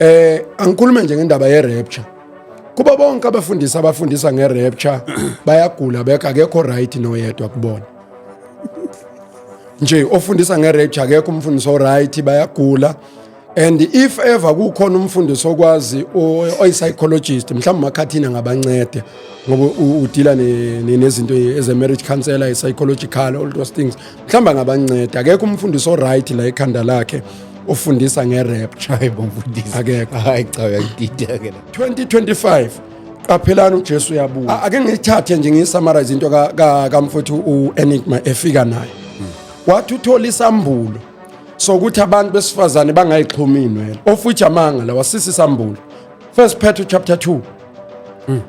eh angikhulume nje ngendaba ye rapture kuba bonke abafundisi abafundisa nge rapture bayagula bekho akekho right noyedwa kubona nje ofundisa nge rapture akekho umfundisi o right bayagula and if ever kukhona umfundisi okwazi oyi psychologist mhlawumbe makhathini angabancede ngoba udila nezinto eze marriage counselor i psychological all those things mhlawumbe angabanceda akekho umfundisi oright la ekhanda lakhe ofundisa nge-rapture hayi bo mfundisi akekho hayi cha uyangidida ke la 2025 qaphelani ujesu uyabuya A- ake ngiyithathe nje ngiyisummarize into ka- ka- kamfowethu u-enigma efika nayo wathi uthola isambulo sokuthi abantu besifazane bangayixhumi inwele ofuthi amanga la wasisa isambulo First Peter chapter 2 mm.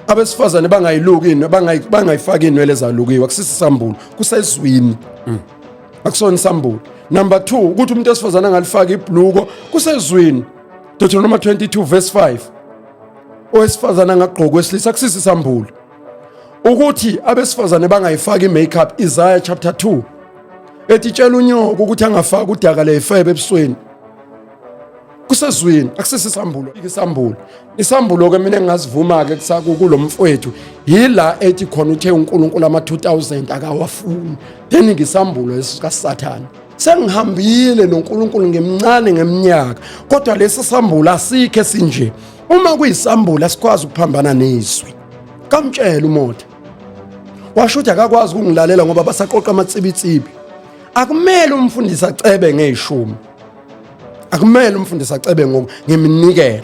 abesifazane bangayiluki inwe bangayifaki inwele zalukiwe akusisisambulo kusezwini mm. akusona isambulo number 2 ukuthi umuntu esifazane angalifaki ibhluko kusezwini Deuteronomy 22 verse 5 owesifazane angagqoka wesilisa akusisisambulo ukuthi abesifazane bangayifaki i-makeup Isaiah chapter 2 ethi tshela unyoko ukuthi angafaki udaka leyifebe ebusweni kusezwini akusisisambulo isambulo isambulo ke mina engingazivuma ke kusaku kulomfowethu yila ethi khona uthe uNkulunkulu ama 2000 akawafuni then ngisambulo esikasathana sengihambile noNkulunkulu ngimncane ngeminyaka kodwa lesi sambulo asikhe sinje uma kuyisambulo asikwazi ukuphambana nezwi kamtshela umotha washo ukuthi akakwazi ukungilalela ngoba basaqoqa amatsibitsibi akumele umfundisi acebe ngeshumi akumele umfundisi acebe ngoku ngiminikelo